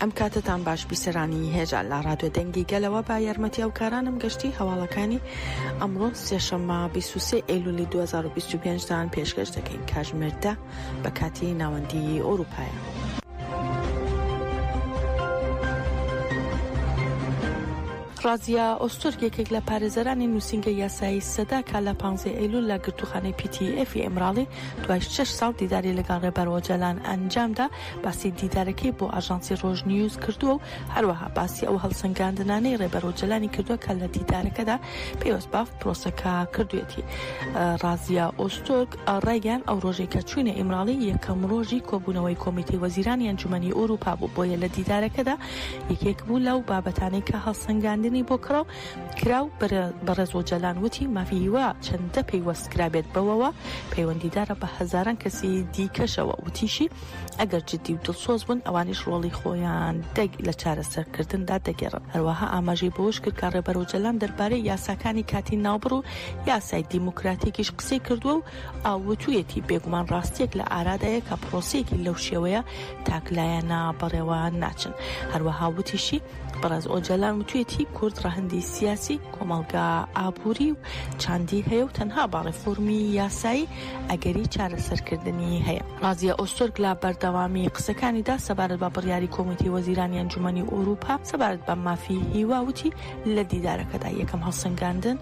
ئەم کاتەتان باش بیسەرانی هێژا لە ڕادوێ دەنگی گەلەوە با یارمەتی ئەو کارانم گەشتی هەواڵەکانی ئەمڕۆ سێشەممە 23 ئەیلولی 2025 دان پێشکەش دەکەین کاژمێردە بە کاتی ناوەندی ئۆروپایە. ڕازیا ئۆستۆر یەکێک لە پارێزەرانی نووسنگە یاسایی سەدا کا لە پانزی ئەیلول لە گرتوخانەی پیتی ئەفی ئەمراڵی دوای شش ساڵ دیداری لەگەڵ ڕێبەر ئۆجەلان ئەنجامدا باسی دیدارەکەی بۆ ئاژانسی ڕۆژنیوز کردووە و هەروەها باسی ئەو هەڵسەنگاندنانەی ڕێبەر ئۆجەلانی کردووە کە لە دیدارەکەدا پێوەست بە پرۆسەکە کردوێتی ڕازیا ئۆستۆک ڕایگەیان ئەو ڕۆژەی کە چوینە ئیمراڵی یەکەم ڕۆژی کۆبوونەوەی کۆمیتەی وەزیرانی ئەنجومەنی ئەوروپا بوو بۆیە لە دیدارەکەدا یەکێک بوو لەو بابەتانەی کە هەڵسەنگاندنی بۆ کڕاو کراو بەڕێز ئۆجالان وتی مافی هیوا چەندە پەیوەست کرابێت بەوەوە پەیوەندیدارە بە هەزاران کەسی دیکەشەوە وتیشی ئەگەر جددی و دڵسۆز بن ئەوانیش ڕۆڵی خۆیان لە چارەسەرکردندا دەگێڕن هەروەها ئاماژەی بەوەش کرد کە ڕێبەر ئۆجالان دەربارەی یاساکانی کاتی ناوبڕ و یاسای دیموکراتیکیش قسەی کردووە و ئاوتویەتی بێگومان ڕاستیەک لە ئارادایە کە پرۆسەیەکی لەو شێوەیە تاکلایەنە بەڕێوە ناچن هەروەها وتیشی بەڕێز ئۆجەلان وتوێتی کورد ڕەهەندی سیاسی کۆمەڵگا ئابووری و چاندی هەیە و تەنها بە ڕێفۆرمی یاسایی ئەگەری چارەسەرکردنی هەیە ڕازیە ئۆستۆرگ لە بەردەوامی قسەکانیدا سەبارەت بە بڕیاری کۆمیتەی وەزیرانی ئەنجومەنی ئوروپا سەبارەت بە مافی هیوا وتی لە دیدارەکەدا یەکەم هەڵسەنگاندن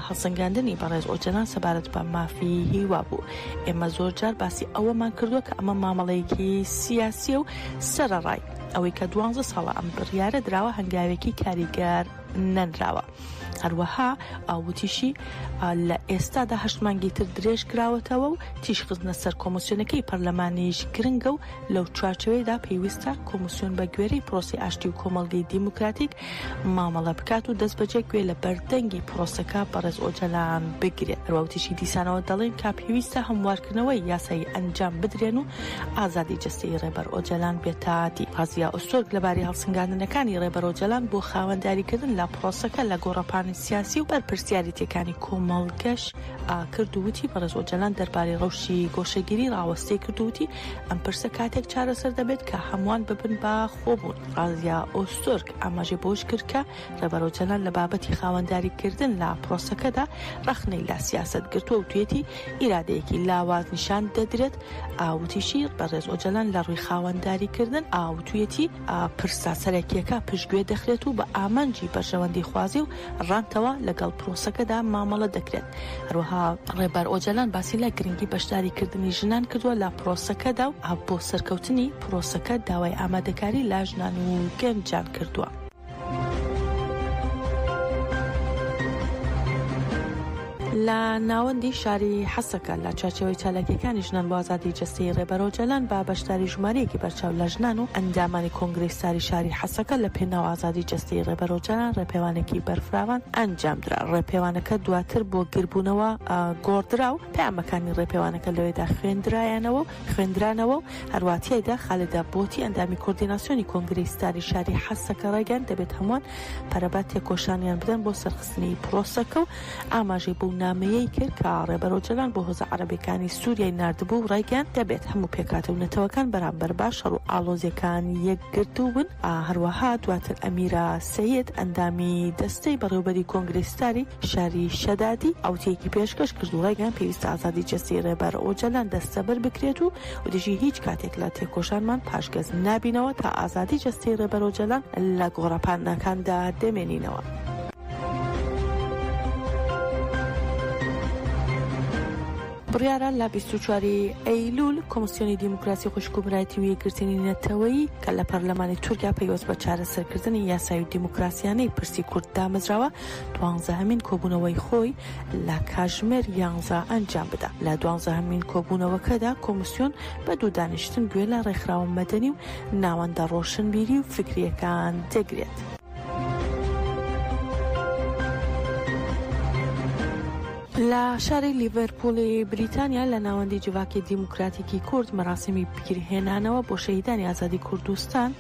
هەڵسەنگاندنی بەڕێز ئۆجەلان سەبارەت بە مافی هیوا بوو ئێمە زۆر جار باسی ئەوەمان کردووە کە ئەمە مامەڵەیەکی سیاسیە و سەرەڕای ئەوەی کە دوانزە ساڵە ئەم بڕیارە دراوە هەنگاوێکی کاریگەر نەنراوە هەروەها ئاوتیشی لە ئێستادا هەشتمانگی تر درێژ کراوەتەوە و تیشخستنە سەر کۆمسیۆنەکەی پەرلەمانیش گرنگە و لەو چوارچەوەیدا پێویستە کۆمسیۆن بە گوێرەی پرۆسی ئاشتی و کۆمەڵگەی دیموکراتیک مامەڵە بکات و دەستبەجێ گوێ لە بەردەنگی پرۆسەکە بەڕێز ئۆجەلان بگرێت هەروەوتیشی دیسانەوە دەڵێن کە پێویستە هەموارکردنەوەی یاسایی ئەنجام بدرێن و ئازادی جستەی ڕێبەر ئۆجەلان بێتادی پازیا ئۆستۆرگ لەبارەی هەڵسنگاندنەکانی ڕێبەر ئۆجەلان بۆ خاوەنداریکردن لە پرۆسەکە لە گۆڕەپانی سیاسی و بەرپرسیارێتیەکانی کۆمەڵگەش ئاکرد وتی بەڕێز ئۆجەلان دەربارەی ڕەوشی گۆشەگیری ڕاوەستەی کردووتی ئەم پرسە کاتێک چارەسەر دەبێت کە هەمووان ببن بە خۆبوون ڕازیا ئۆس تورک ئاماژەی بەوەش کرد کە ڕێبەر ئۆجەلان لە بابەتی خاوەنداریکردن لە پرۆسەکەدا ڕەخنەی لە سیاسەت گرتووە وتوێتی ئیرادەیەکی لاواز نیشان دەدرێت ئاوتیشی بەڕێز ئۆجەلان لە ڕووی خاوەنداریکردن ئاوتوێتی پرسە سەرەکیەکە پشتگوێ دەخرێت و بە ئامانجی بەرژەوەندیخوازی و رانتەوە لەگەڵ پرۆسەکەدا مامەڵە دەکرێت هەروەها ڕێبەر ئۆجەلان باسی لە گرنگی بەشداری کردنی ژنان کردووە لە پرۆسەکەدا و ئاپ بۆ سەرکەوتنی پرۆسەکە داوای ئامادەکاری لا ژنان و گەنجان کردووە. لە ناوەندی شاری حەسەکە لە چوارچێوەی چالاکییەکانی ژنان بۆ ئازادیی جەستەیی ڕێبەر ئۆجالان بە بەشداری ژمارەیەکی بەرچاو لە ژنان و ئەندامانی کۆنگرەی ستاری شاری حەسەکە لە پێناو ئازادیی جەستەیی ڕێبەر ئۆجالان ڕێپێوانێکی بەرفراوان ئەنجامدرا. ڕێپێوانەکە دواتر بۆ گردبوونەوە گۆڕدرا و پەیامەکانی ڕێپێوانەکە لەوێدا خوێندرایەنەوە و خوێندرانەوە و هەروا تیایدا خالدە بۆتی ئەندامی کۆردیناسیۆنی کۆنگرەی ستاری شاری حەسەکە ڕایگەیاند دەبێت هەمووان پەرە بە تێکۆشانیان بدەن بۆ سەرخستنی پرۆسەکە و ئاماژەی بەو نامەیەی کرد کە ڕێبەر ئۆجەلان بۆ هۆزە عەرەبیەکانی سوریای ناردبوو و ڕایگەیاند دەبێت هەموو پێکهاتە و نەتەوەکان بەرامبەر بە شەڕ و ئاڵۆزیەکان یەکگرتوو بن، هەروەها دواتر ئەمیرە سەید ئەندامی دەستەی بەڕێوبەری کۆنگرەی ستاری شاری شەدادی ئەوتیەکی پێشکەش کرد و ڕایگەیاند پێویستە ئازادی جەستەی ڕێبەر ئۆجەلان دەستەبەر بکرێت و وتیشی هیچ کاتێک لە تێکۆشانمان پاشگەز نابینەوە تا ئازادی جەستەی ڕێبەر ئۆجەلان لە گۆڕەپانەکاندا دەمێنینەوە. بڕیارە لە بیست و چوار ی ئەیلوول کۆمسیۆنی دیموکراسی خوشک و برایەتی و یەکگرتنی نەتەوەیی کە لە پەرلەمانی تورکیا پەیوەست بە چارەسەرکردنی یاسایی و دیموکراسیانەی پرسی کورد دامەزراوە دوانزەهەمین کۆبوونەوەی خۆی لە کاژمێر یانزە ئەنجام بدا لە دوانزەهەمین کۆبوونەوەکەدا کۆمسیۆن بە دوو دانیشتن گوێ لە ڕێکخراوە مەدەنی و ناوەندە ڕۆشنبیری و فکرییەکان دەگرێت. لە شاری لیڤەرپووڵی بریتانیا لە ناوەندی جڤاکی دیموکراتیکی کورد مەراسیمی پیرهێنانەوە بۆ شەهیدانی ئازادی کوردستان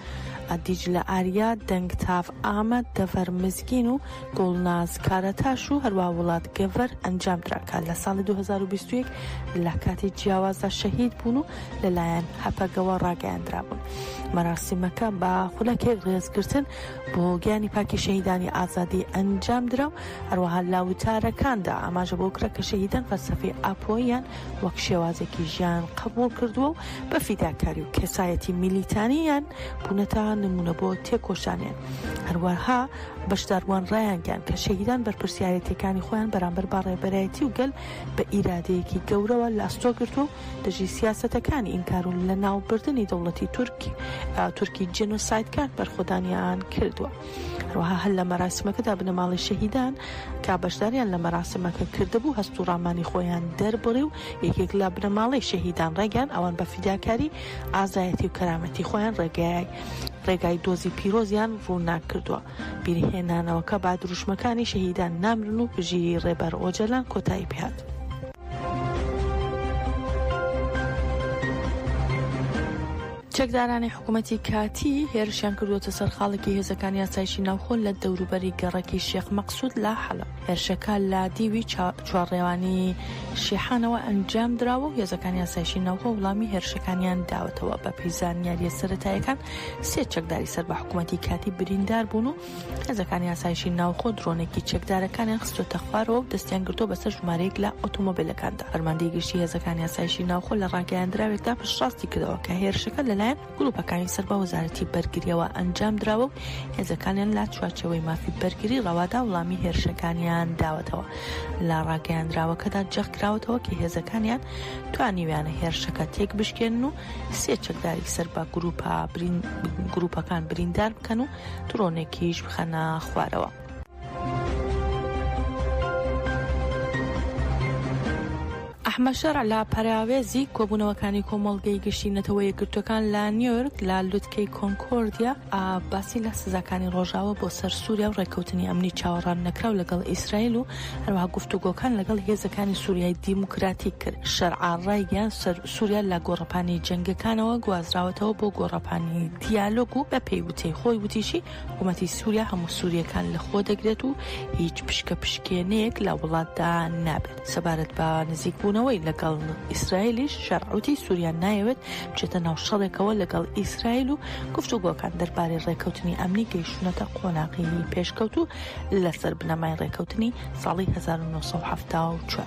ئەدیج لە ئاریا دەنگتاف ئامەد دەڤەر مزگین و گوڵناز کارەتاش و هەروە وڵات گەڤەر ئەنجام دراکە لە ساڵی 2021 لە کاتی جیاوازدا شەهید بوون و لەلایەن هەپەگەوە ڕاگەیاندرابوون. مەراسیمەکە بە خولەکێک ڕێزگرتن بۆ گیانی پاکی شەهیدانی ئازادی ئەنجام درا و هەروەها لە وتارەکاندا ئاماژە بۆ کرا کە شەهیدان فەلسەفەی ئاپۆییان وەک شێوازێکی ژیان قبوڵ کردووە و بە فیداکاری و کەسایەتی میلیتانییان بوونەتە نموونە بۆ تێکۆشانیان. هەروەها بەشداربووان ڕایانگەیاند کە شەهیدان بەرپرسیارێتییەکانی خۆیان بەرامبەر بە ڕێبەرایەتی و گەل بە ئیرادەیەکی گەورەوە لە ئەستۆ گرتووە و دژی سیاسەتەکانی ئینکار و لەناوبردنی دەوڵەتی تورک تورکی جێنۆسایدکار بەرخۆدانیان کردووە هەروەها هەر لە مەراسمەکەدا بنەماڵی شەهیدان کا بەشداریان لە مەراسمەکە کردبوو هەست و ڕامانی خۆیان دەربڕی و یەکێک لە بنەماڵی شەهیدان ڕێگەیان ئەوان بە فیداکاری ئازایەتی و کەرامەتی خۆیان ڕێگای ڕێگای دۆزی پیرۆزیان ڕووناک کردووە بیرهێنانەوەکە با دروشمەکانی شەهیدان نامرن و بژیری ڕێبەر ئۆجەلان کۆتایی پێات. چەکدارانی حکوومەتی کاتی هێرشیان کردوەتە سەر خاڵێکی هێزەکان یاسایشی ناوخۆ لە دەوروبەری گەڕەکی شێخ مەقسود لە حەلە هێرشەکە لە دیوی چوارڕێوانی شیحانەوە ئەنجام دراوە و هێزەکان یاسایشی ناوخۆ وڵامی هێرشەکانیان داوەتەوە بە پیزانیاریە سەتایەکان سێ چەکداری سەر بە حکوومەتی کاتی بریندار بوون و هێزەکانی ئاسایشی ناوخۆ درۆنێکی چەکدارەکانیان خستووەتە خوارەوە و دەستیان گرتووە بەسەر ژمارەیەک لە ئۆتۆمۆبیلەکاندا. فەرماندەی گشتی هێزەکانی ئاسایشی ناوخۆ لە ڕاگەیاندراوێکدا پشتڕاستی کردەوە کە هێرشەکە لەلایەن گرووپەکانی سەر بە وەزارەتی بەرگرییەوە ئەنجام دراوە و هێزەکانیان لە چوارچێوەی مافی بەرگری ڕەوادا وڵامی هێرشەکانیان داوەتەوە. لە ڕاگەیاندراوەکەدا جەخت کراوەتەوە کە هێزەکانیان توانیویانە هێرشەکە تێکبشکێنن و سێ چەکداری سەر بە گرووپەکان بریندار بکەن و دڕۆنێکیش بخەنە خوارەوە. ئەحمەد شەرع لە پەراوێزی کۆبوونەوەکانی کۆمەڵگەی گشتی نەتەوە یەکگرتووەکان لە نیۆرک لە لوتکەی کۆنکۆردیا باسی لە سزاکانی ڕۆژاوە بۆ سەر سووریا و ڕێککەوتنی ئەمنی چاوەڕان نەکراو لەگەڵ ئیسرائیل و هەروەها گفتوگۆکان لەگەڵ هێزەکانی سووریای دیموکراتیک کرد شەرع ڕایگەیاند سوریا لە گۆڕەپانی جەنگەکانەوە گوازراوەتەوە بۆ گۆڕەپانی دیالۆگ و بەپێی وتەی خۆی وتیشی حکوومەتی سووریا هەموو سووریەکان لەخۆ دەگرێت و هیچ پشکە پشکێنەیەک لە وڵاتدا نابێت سەبارەت بە نزیکبوونەوەی لەگەڵ ئیسرائیلیش شەرعوتی سووریا نایەوێت بچێتە ناو شەڕێکەوە لەگەڵ ئیسرائیل و گفتوگۆکان دەربارەی ڕێککەوتنی ئەمنی گەیشتونەتە قۆناغی پێشکەوتوو لەسەر بنەمای ڕێککەوتنی ساڵی 1970.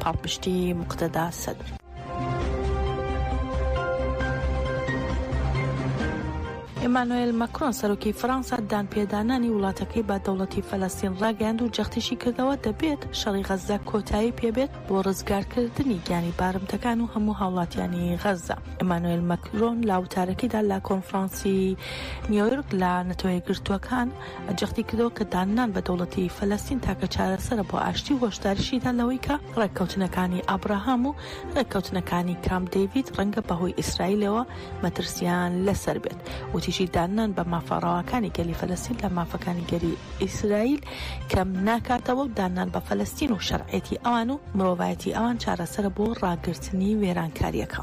پاڵپشتی مقتەدا سەدر. ئیمانۆێل مەکرۆن سەرۆکی فەرەنسا دانپێدانانی وڵاتەکەی بە دەوڵەتی فەلەستین ڕاگەیاند و جەختیشی کردەوە دەبێت شەڕی غەززە کۆتایی پێبێت بۆ ڕزگارکردنی گیانی بارمتەکان و هەموو هاوڵاتیانی غەززە ئیمانۆێل مەکرۆن لە وتارەکەیدا لە کۆنفرانسی نیۆیۆرک لە نەتەوە یەکگرتووەکان جەختی کردەوە کە داننان بە دەوڵەتی فەلەستین تاکە چارەسەرە بۆ ئاشتی و هۆشداریشیدا لەوەی کە ڕێککەوتنەکانی ئابراهام و ڕێککەوتنەکانی کامپ دەیڤید ڕەنگە بەهۆی ئیسرائیلەوە مەترسییان لەسەر بێت وتیشی داننان بە مافە ڕەواکانی گەلی فەلەستین لە مافەکانی گەلی ئیسرائیل کەم ناکاتەوە و داننان بە فەلەستین و شەرعێتی ئەوان و مرۆڤایەتی ئەوان چارەسەرە بۆ ڕاگرتنی وێرانکارییەکە.